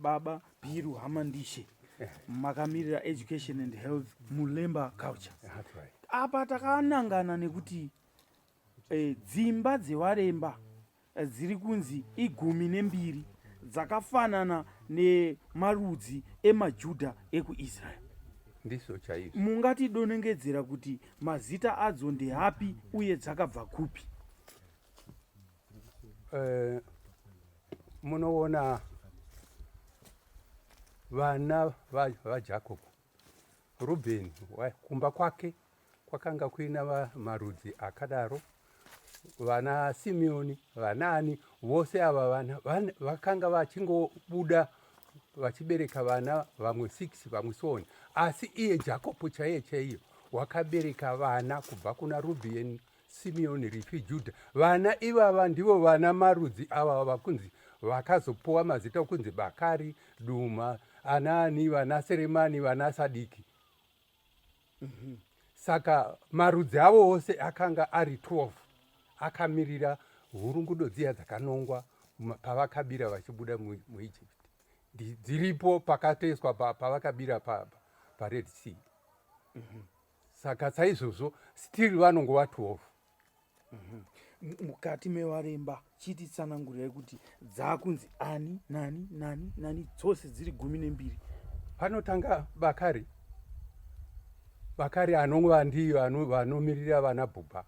baba Biru Hamandishe makamirira education and health muLemba culture apa takanangana nekuti eh, dzimba dzevaremba dziri kunzi igumi nembiri dzakafanana nemarudzi emaJudha ekuIsrael. Ndizvo chaizvo. Mungatidonengedzera kuti mazita adzo ndeapi uye dzakabva kupi? Eh, munoona vana vaJakobo va Rubheni kumba kwake kwakanga kuina marudzi akadaro vana Simeoni vanaani vose ava vana vakanga vachingobuda vachibereka vana vamwe 6 vamwe sooni asi iye Jakobo chaiye chaiyo wakabereka vana kubva kuna Rubheni Simeoni, Rifhi, Judha. Vana ivava ndivo vana marudzi ava vakunzi vakazopuwa mazita okunzi Bakari, Duma, anaani, vana Seremani, vana Sadiki. Mm -hmm. Saka marudzi avo ose akanga ari 12 akamirira hurungudo dziya dzakanongwa pavakabira vachibuda muEgypt dziripo pakatoiswa pavakabira paRed Sea. Mm -hmm. saka saizvozvo still vanongova 12 mukati mevaremba chiti tsanangurai kuti dzaakunzi ani nani nani nani dzose dziri gumi nembiri panotanga bakari bakari anongova ndiyo vanomirira vana bhubha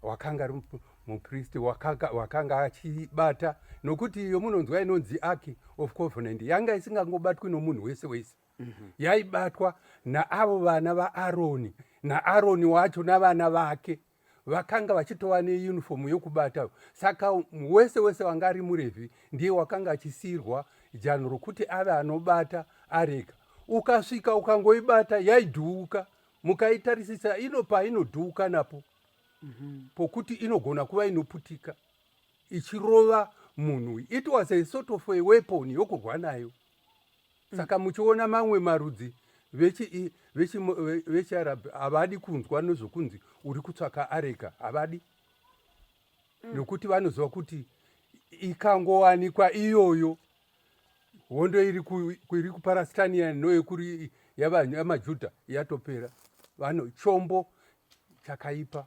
wakanga ari mupristi wakanga achibata nokuti iyo munonzwa inonzi aki of covenant yanga isingangobatwi nomunhu wese wese mhm. yaibatwa naavo vana vaaroni naaroni wacho navana vake vakanga vachitova neunifomu yokubata saka wese wese wanga ari murevhi ndiye wakanga achisiyirwa janhu rokuti ave anobata areka ukasvika ukangoibata yaidhuuka mukaitarisisa ino painodhuuka napo mhm. pokuti inogona kuva inoputika ichirova munhu it was a sort of a weapon yokurwa nayo saka muchiona mamwe marudzi vechiarab havadi kunzwa nezvokunzi uri kutsvaka areka havadi mm. nokuti vanoziva kuti ikangowanikwa iyoyo hondo iri kuparastania noyekuri yamajudha yatopera vano chombo chakaipa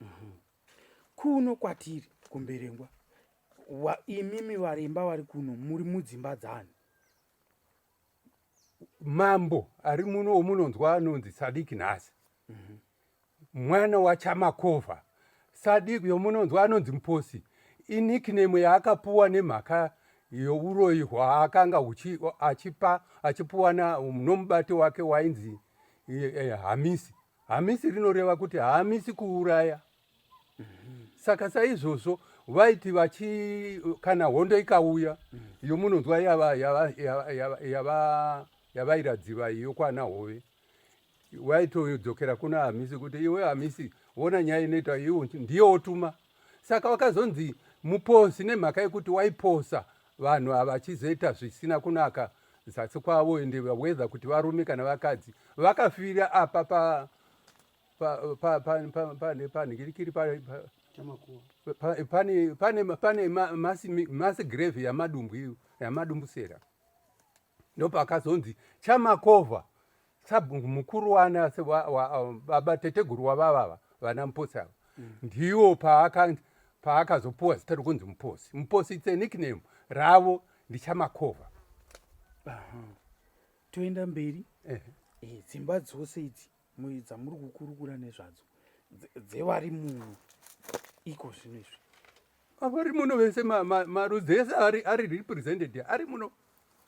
Mhm. kuno kwatiri kumberengwa wa- imimi varemba vari kuno muri mudzimba dzani mambo ari muno omunonzwa anonzi sadiki nhasi mwana wachamakova sadiki yomunonzwa anonzi muposi inikname yaakapuwa nemhaka youroyi hwaakanga huchi- achipa achipuwana nomubati wake wainzi eh, eh, hamisi Hamisi rinoreva kuti haamisi kuuraya. Saka saizvozvo vaiti vachi kana hondo ikauya iyo munonzwa yava- yava- yava- yava- yava- yavairadziva iyo kwana hove vaitodzokera kuna hamisi kuti iwe hamisi vona nyaya inoita iwo ndiye wotuma saka wakazonzi muposi nemhaka yekuti waiposa vanhu ava vachizoita zvisina kunaka zasi kwavo ende whether kuti varume kana vakadzi vakafira apa pa panhikirikiri pane masi grave yamadumbwi yamadumbusera ndopakazonzi chamakova sabhungu mukuru wana baba teteguru wavavava vana muposi ava mm. ndiwo paakazopuwa zita rokunzi muposi muposi its a nickname ravo ndichamakova toenda mberi eh, dzimba dzose idzi dzamuri kukurukura nezvadzo dzevari muno iko zvino izvi avari muno vese marudzi ese ari represented ari muno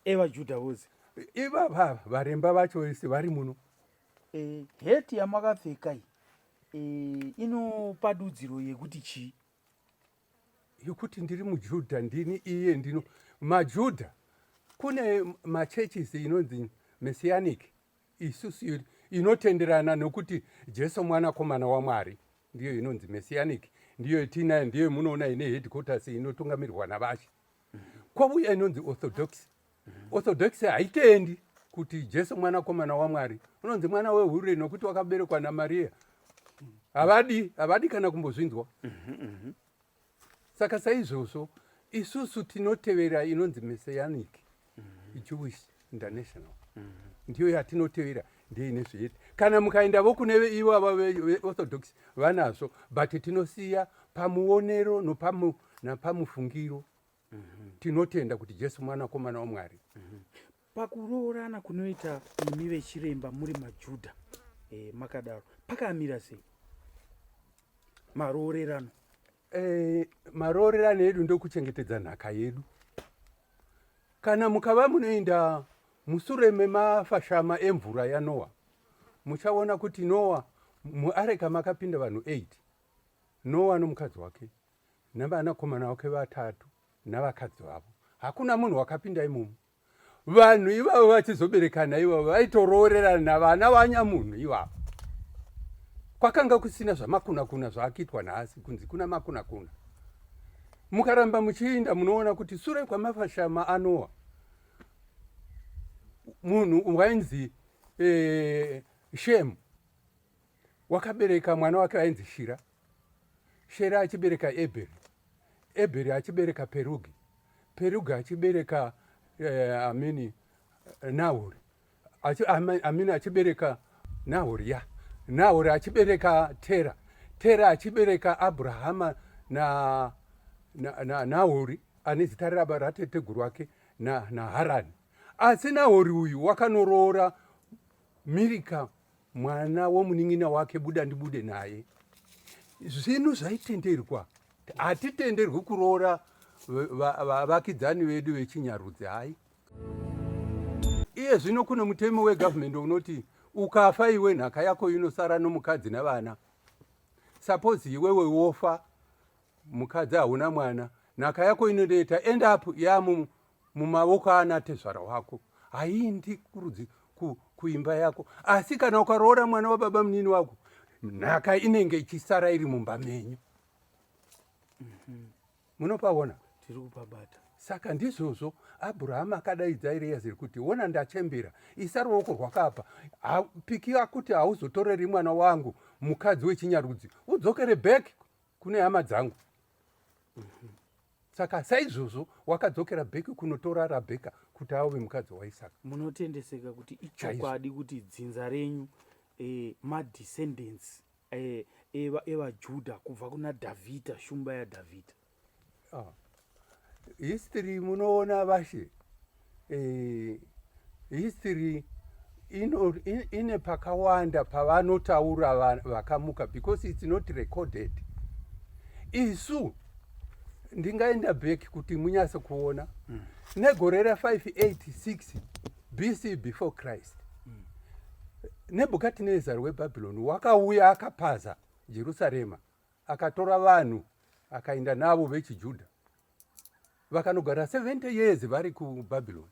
evajudha vose ivava varemba vacho vese vari muno eh, heti yamakapfeka iyi eh, inopa dudziro yekuti chii yekuti ndiri mujudha ndini iye ndino majudha kune machurches inonzi messianic isusu inotenderana nokuti jesu mwanakomana wamwari ndiyo inonzi messianic ndiyo itiinayo ndiyo munoona ine headquarters inotungamirwa navashe kwauya inonzi orthodox orthodox haitendi kuti jesu mwanakomana wamwari unonzi mwana wehure nokuti wakaberekwa namariya havadi havadi kana kumbozvinzwa mhm, mhm. saka saizvozvo isusu tinotevera inonzi messianic mm-hmm. jewish international mm-hmm. ndiyo yatinotevera ndiyo ine zviete kana mukaenda vo kune ivo ava veorthodox vanazvo but tinosiya pamuonero napamufungiro mm-hmm. tinotenda kuti jesu mwanakomana wamwari Pakuroorana kunoita imi vechiremba muri maJudha eh, makadaro pakamira sei maroorerano? Eh, maroorerano edu ndokuchengetedza nhaka yedu. Kana mukava munoenda musure memafashama emvura yaNoa, muchaona kuti Noa muareka makapinda vanhu 8 Noa nomukadzi wake navanakomana wake vatatu navakadzi vavo. Hakuna munhu wakapinda imomo. vanhu ivavo vachizoberekana ivavo vaitoroorerana vana vanyamunhu ivavo kwakanga kusina zvamakunakuna zvaakiitwa nhasi kunzi kuna makunakuna mukaramba muchiinda munoona kuti sure kwamafashama anowa munhu wainzi eh, shemu wakabereka mwana wake ainzi shira Shera achibereka Ebheri, Ebheri achibereka Perugi, Perugi achibereka eh, amini Nahori, achi, amini achibereka Nahori ya Nahori achibereka Tera, Tera achibereka Abrahama na Nahori ane zita raba rateteguru wake naHarani na asi Nahori uyu wakanoroora Mirika mwana womunin'ina wake buda ndibude naye zvinhu zvaitenderwa hatitenderwi kuroora vavakidzani vedu vechinyarudzi hai iye zvino kune mutemo wegavhumende unoti ukafa iwe nhaka yako inosara nomukadzi nevana suppose iwewe wofa mukadzi hauna mwana nhaka yako inoneta end up yamu mumavoko aana tezvara wako haindi kurudzi ku, kuimba yako asi kana ukaroora mwana wababa munini wako nhaka inenge ichisara iri mumba menyu mhm. munopaona tiri kupabata saka ndizvozvo abrahama akadaidza eriyaziri kuti wona ndachembera isa ruoko rwakapa pikira kuti hauzotoreri mwana wangu mukadzi wechinyarudzi udzokere back kune hama dzangu saka saizvozvo wakadzokera bheki kunotora rabheka kuti ave mukadzi waisaka munotendeseka kuti ichokwadi kuti dzinza renyu eh, madescendants eh, eva- evajudha kubva kuna dhavhidha shumba yadhavhidha Ah, history munoona vashe eh, history ino, in, ine pakawanda pavanotaura vakamuka because it's not recorded isu ndingaenda back kuti munyase kuona mm. negore ra 586 bc before christ mm. nebukadnezar webabylon wakauya akapaza jerusarema akatora vanhu akaenda navo vechijudha vakanogara 70 years vari kubabylon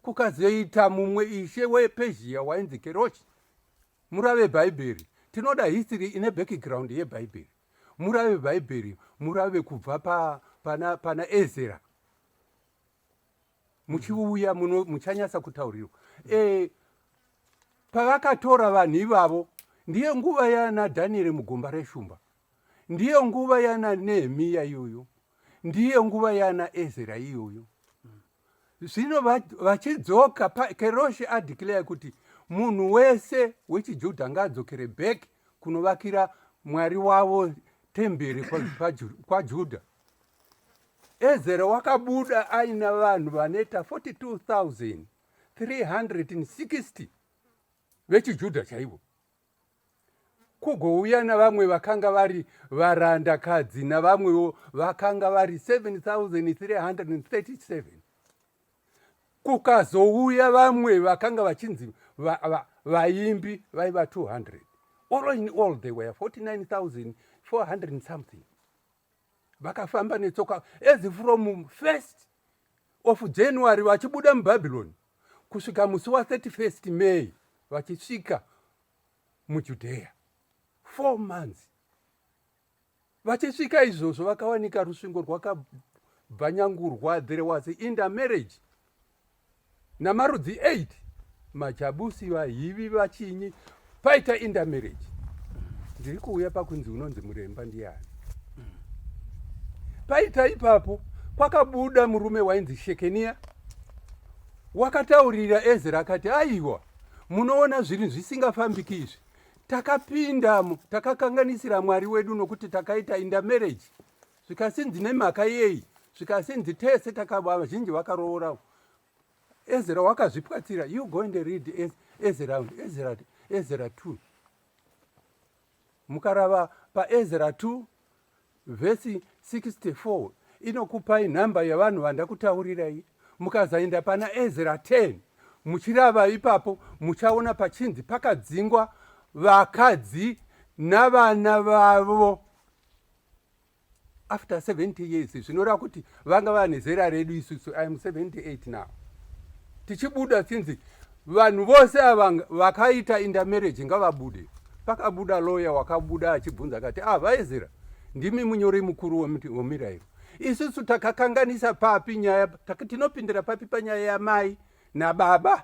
kukazoita mumwe ishe wepezhia wainzi keroshi murave bhaibheri tinoda history ine background yebhaibheri murave bhaibheri murave kubva pa, pana, pana ezera muchiuya muno muchanyasa kutaurirwa e, pavakatora vanhu ivavo ndiyo nguva yana dhanieri mugomba reshumba ndiyo nguva yana nehemiya iyoyo ndiyo nguva yana ezera iyoyo zvino vachidzoka keroshi adeclare kuti munhu wese wechijudha ngaadzokere back kunovakira mwari wavo temberi kwajudha Ezera wakabuda aina vanhu vanoita 42,360 vechiJudha chaivo, kugouya navamwe vakanga vari varandakadzi navamwewo vakanga vari 7,337 kukazouya vamwe vakanga vachinzi vaimbi vaiva 200 all in all they were 49,400 something vakafamba netsoka as from first of january vachibuda mubhabhironi kusvika musi wa31 may vachisvika mujudheya four months vachisvika izvozvo vakawanika rusvingo rwakabvanyangurwa there was inda marriage namarudzi 8 machabusi vahivi vachinyi paita indamarriage ndiri kuuya pakunzi unonzi muremba ndiyani paita ipapo kwakabuda murume wainzi shekeniya wakataurira ezra akati aiwa munoona zvinhu zvisingafambiki izvi takapindamo takakanganisira mwari wedu nokuti takaita indamarriage zvikasinzi nemhaka yei zvikasinzi tese takava vazhinji vakaroora ezera wakazvipwatsira you go and read ezera ezera ezera two mukarava paezera two vhesi 64 inokupai nhamba yevanhu vandakutaurirai mukazaenda pana ezera 10 muchirava ipapo muchaona pachinzi pakadzingwa vakadzi navana vavo after 70 years zvinoreva kuti vanga vane zera redu isusu iam 78 now tichibuda sinzi vanhu vose ava vakaita indamarriage ngavabude pakabuda loya wakabuda achibvunza akati ah vaezera ndimi munyori mukuru wemirairo isusu takakanganisa papi nyaya tinopindira papi panyaya yamai nababa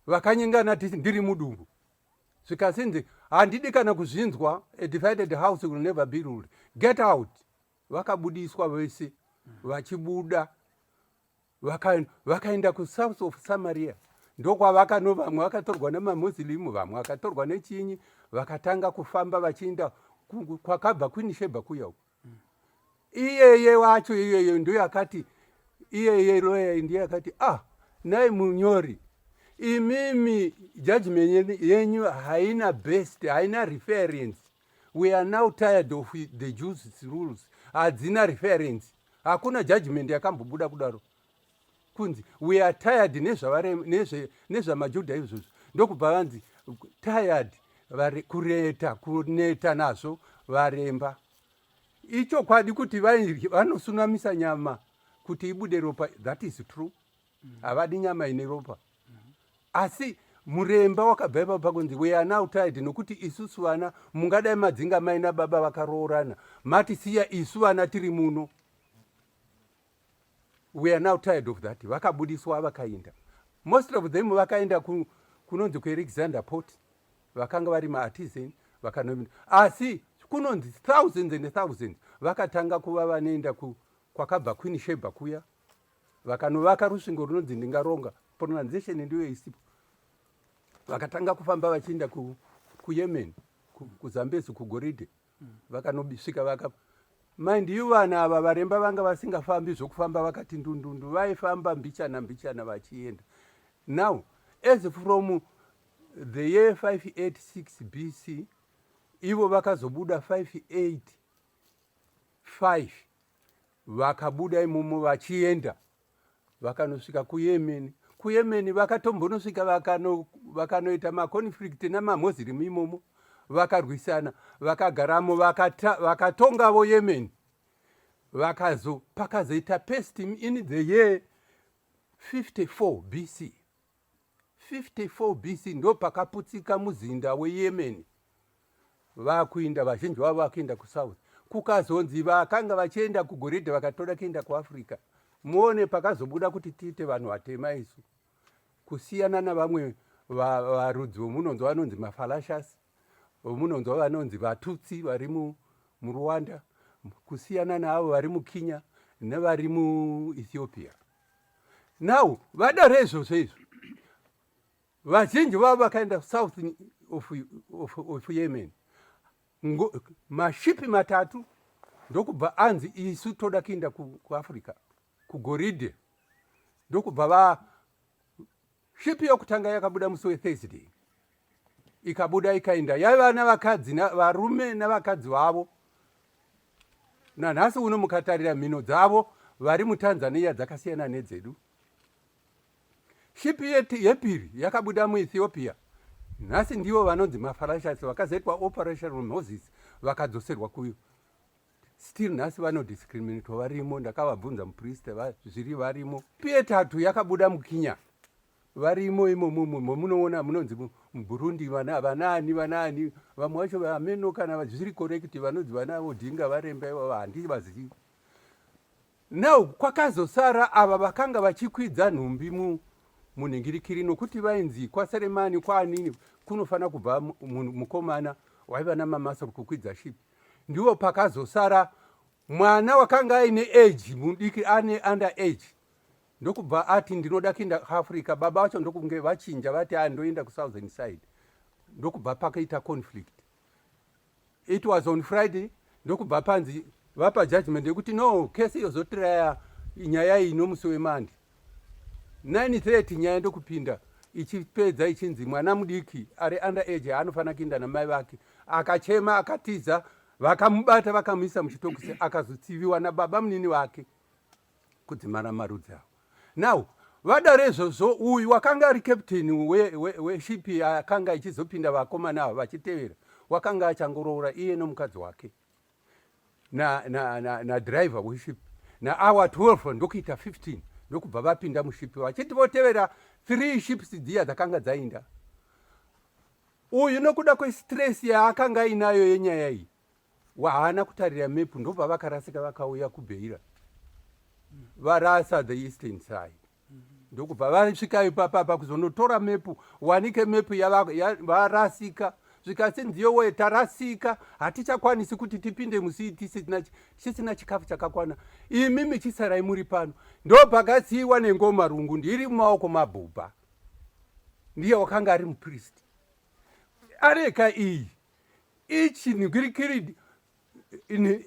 vakanyengana tisi ndiri mudumbu zvikasinzi handidi kana kuzvinzwa a divided house will never be ruled get out vakabudiswa vese vachibuda vakaenda vaka kusouth of samaria ndokwavakano vamwe vakatorwa nemamuslim vamwe vakatorwa nechinyi vakatanga kufamba vachiinda kwakabva queen sheba kuya uku iyeye wacho iyeye ndiyo yakati iyeye loya ndiyo yakati ah nai munyori imimi judgment yenyu haina best haina reference we are now tired of the jews rules hadzina reference hakuna judgment yakambobuda kudaro kunzi we are tired nezvamajudha izvozvo ndokubva vanzi tired kureta kuneta nazvo varemba ichokwadi kuti vanosunamisa nyama kuti ibude ropa that is true havadi nyama ine ropa asi muremba wakabva ipapo pakunzi we are now tired nokuti isusu vana mungadai madzinga maina baba vakaroorana matisiya isu vana tiri muno we are now tired of that vakabudiswa vakainda most of them vakaenda ku, kunonzi kualexander port vakanga vari maartisan vakanomina asi kunonzi thousands and thousands vakatanga kuva vanoenda ku, kwakabva queen sheba kuya vakanovaka rusvingo runonzi ndingaronga pronunciation ndiyo isipo vakatanga kufamba vachienda ku, kuyemen kuzambezi kugoridhe vakanobisvika vaka mind you vana ava varemba vanga vasingafambi zvokufamba vakati ndundundu vaifamba mbichana mbichana vachienda now as from the year 586 bc ivo vakazobuda 585 vakabuda imomo vachienda vakanosvika kuyemen kuyemen vakatombonosvika vakano, vakanoita maconflict namamuslim imomo vakarwisana vakagaramo vakatongavo vaka yemen vakazo pakazoita pest in the year 54 bc 54 BC ndopakaputsika muzinda weYemen vakuinda vazhinji vavo vakuenda kusouth kukazonzi vakanga vachienda kugoridhe vakatoda kuenda kuafrica muone pakazobuda kuti tiite vanhu vatema isu kusiyana navamwe varudzi vomunonzwa vanonzi mafalashas vomunonzwa vanonzi vatutsi vari murwanda kusiyana naavo vari mukinya nevari muethiopia now vadaro izvozvo izvo vazhinji vavo vakaenda south of, of, of yemen mashipi matatu ndokubva anzi isu toda kuinda kuafrica kugoridhe ndokubva va Clip yokutanga yakabuda musi weThursday ikabuda ikaenda yaiva navakadzi varume navakadzi vavo nanhasi uno mukatarira mhino dzavo vari mutanzania dzakasiyana nedzedu shipi yepiri yakabuda muethiopia nhasi ndivo vanonzi mafarashasi vakazoitwa operation moses vakadzoserwa still nhasi vanodiscriminatwa varimo ndakavabvunza mupriste zviri varimo pietatu yakabuda mukinya varimo imomomo momunoona munonzi muburundi vanaani vanaani vamwe vacho vaameno kana zviri korekiti vanonzi vana odhinga varemba ivava handii vazivi now kwakazosara ava vakanga vachikwidza nhumbi munhingirikiri nokuti vainzi kwaseremani kwaanini kunofanira kubva mukomana waiva namamasa kukwidza shipi ndiwo pakazosara mwana wakanga aine age mudiki ane under age ndokubva ati ndinoda kuenda kuafrica baba vacho ndokunge vachinja vati a ndoenda kusouthern side ndokubva pakaita conflict it was on friday ndokubva panzi vapa judgment yekuti no kesi yozotiraya nyaya iyi nomusi wemandi 9:30 nyaya ndokupinda ichipedza ichinzi mwana mudiki ari under age haanofanira kuinda namai vake akachema akatiza vakamubata vakamuisa muchitokisi akazotsiviwa nababa munini vake kudzimara marudzi avo now vada rezvozvo uyu wakanga ari captain weshipi we, we akanga ichizopinda vakomana avo vachitevera wakanga achangoroora iye nomukadzi wake na, na, na, na driver weship naawa 12 ndokuita 15 ndokubva vapinda muship vachiti votevera three ships dziya dzakanga dzainda uyu nokuda kwestress yaakanga ainayo yenyaya iyi wahaana kutarira mepu ndobva vakarasika vakauya kubheira varasa the eastern side ndokubva vasvika ipapa apa kuzonotora mepu wanike mepu yavarasika ya, zvikasi ndiyo woye tarasika hatichakwanisi kuti tipinde musii tisina chikafu chakakwana imi michisarai muri pano ndopakasiiwa nengoma rungu ndiri mumaoko mabhubha ndiye wakanga ari mupristi areka iyi ichinhwirikiridi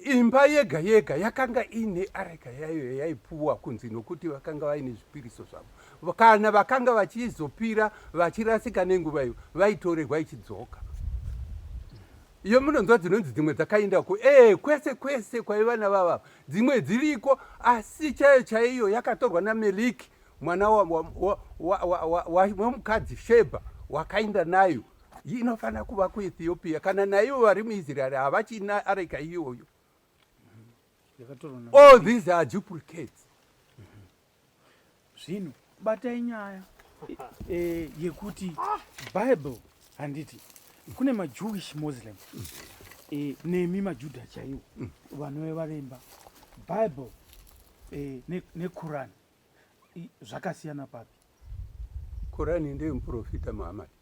imba yega yega yakanga iine areka yayo yaipuwa kunzi nokuti vakanga vaine zvipiriso zvavo kana vakanga vachizopira vachirasika nenguva iyo vaitorerwa ichidzoka iyo munonzwa dzinonzi dzimwe dzakaenda ku e eh, kwese kwese kwaiva navava dzimwe dziriko asi chaiyo chaiyo yakatorwa nameliki mwana wemukadzi sheba wakaenda nayo inofanira kuva kuethiopia kana naivo vari muisraeri havachina areka iyoyo all these are duplicates zvino batai nyaya e, yekuti bible handiti kune majewish muslim e, nemi majudha chaiwo vanove varemba bible e, nequran ne zvakasiyana papi korani ndeye muprofita muhamadi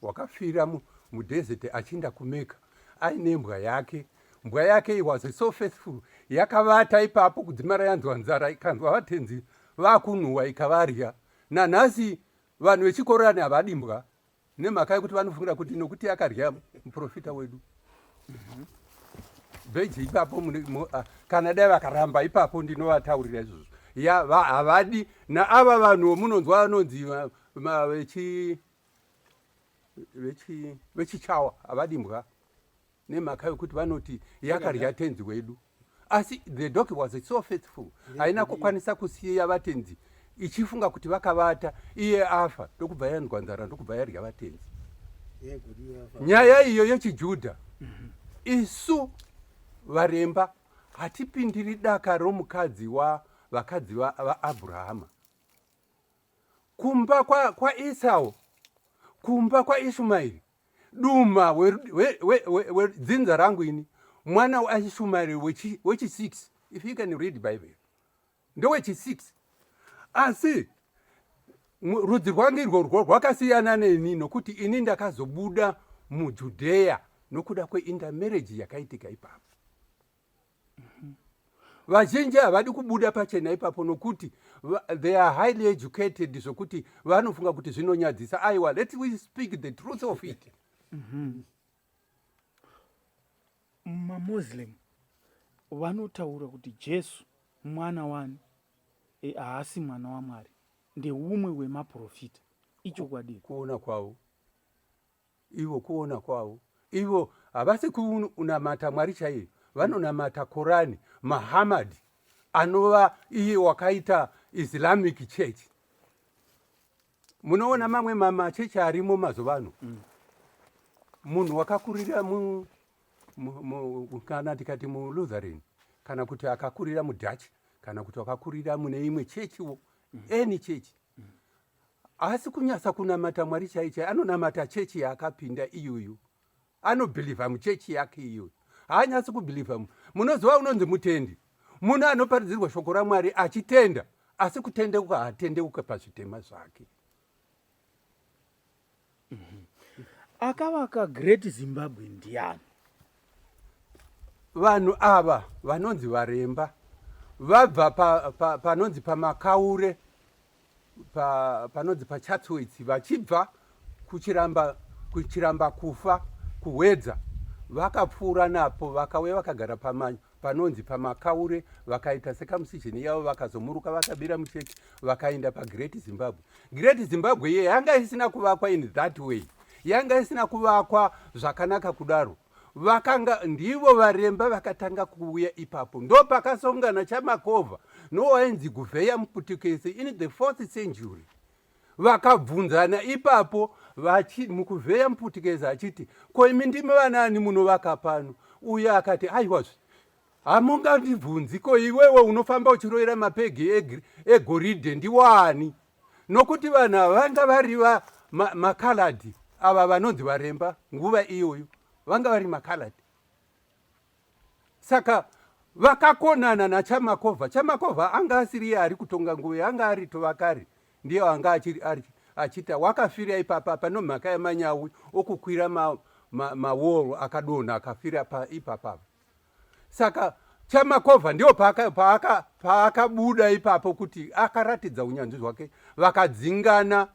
wakafira mudesert achinda kumeka aine mbwa yake mbwa yake iwaze so faithful yakavata ipapo kudzimara yanzwa nzara ikanzwa vatenzi vakunhuwa ikavarya nanhasi vanhu vechikorani havadi mbwa nemhaka yekuti vanofungira kuti nokuti akarya muprofita wedu mhm. bheji ipapo ah, kana dai vakaramba ipapo ndinovataurira izvozvo ya havadi naava vanhu munonzwa vanonzi vechichawa havadi mbwa nemhaka yokuti vanoti yakadya tenzi wedu asi the dog was so faithful haina kukwanisa kusiya vatenzi ichifunga kuti vakavata iye afa ndokubva yanzwa nzara ndokubva yadya vatenzi nyaya iyo yechijudha mhm. isu varemba hatipindiri daka romukadzi wavakadzi vaabrahama wa kumba kwaesau kwa kumba kwaishumaeri duma wedzinza rangu ini mwana waishumairi wechisi if you can read bible ndowechisi asi rudzi rwangu irworwo rwakasiyana neni nokuti ini ndakazobuda mujudheya nokuda kweintermarriage yakaitika ipapo vazhinji havadi kubuda pachena ipapo nokuti they are highly educated zvokuti vanofunga kuti zvinonyadzisa aiwa let we speak the truth of it mm-hmm. mamuslim vanotaura kuti jesu mwana wani e, haasi e, mwana wamwari ndeumwe wemaprofita ichokwadi kuona kwavo ivo kuona kwavo ivo havasi kunamata mwari chaiyo vanonamata korani mahamad anova iye wakaita islamic church munoona mamwe mamachechi arimo mazuva ano mm. munhu wakakurira kana tikati mulutherin kana kuti akakurira mudutch kana kuti wakakurira mune imwe chechiwo mm. any chechi haasi kunyasa kunamata mwari chai chai anonamata chechi yaakapinda iyoyo anobhilivha muchechi yake iyoyo haanyasi kubhilivha munoziva unonzi mutendi munhu anoparidzirwa shoko ramwari achitenda asi kutendeuka haatendeuke pazvitema zvake Akavaka Great Zimbabwe ndiani? Vanhu ava vanonzi varemba vabva panonzi pa, pa, pamakaure pa, panonzi pachatsoits vachibva kuchiramba, kuchiramba kufa kuhwedza vakapfuura napo vakauya vakagara pamanya panonzi pamakaure vakaita sekamusijeni yavo vakazomuruka vakabira mucheki vakaenda pagreat zimbabwe great zimbabwe iye yanga isina kuvakwa in that way yanga isina kuvakwa zvakanaka kudaro vakanga ndivo varemba vakatanga kuuya ipapo ndo pakasongana chamakovha nowainzi guvheya muputukese in the fourth century Vakabvunzana ipapo vachi, Mukuvheya Mputikezi achiti, Ko imi ndimi vanaani munovaka pano? Uye akati, Aiwazve, hamungandibvunzi, ko iwewe unofamba uchiroira mapegi egoridhe ndiwani? Nokuti vanhu ava vanga vari va ma, makaladhi ava vanonzi varemba nguva iyoyo vanga vari makaladhi saka vakakonana nachamakova chamakova anga asiri iye ari kutonga nguva yanga ari tovakari ndiyo anga achita wakafira ipapa pano mhaka yemanyawi okukwira mawall ma, ma akadonha akafira ipapa saka chamakova ndiyo paakabuda ipapo kuti akaratidza unyanzvi hwake vakadzingana pa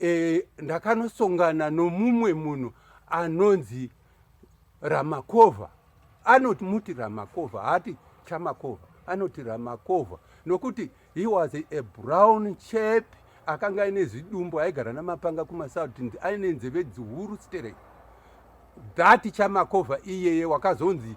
e, ndakanosongana nomumwe munhu anonzi ramakova anoti muti ramakova haati chamakova anoti ramakova nokuti he was a brown chap akanga aine zvidumbu aigara namapanga kumasouth aine nzeve dzihuru sterek that chamakova iyeye wakazonzi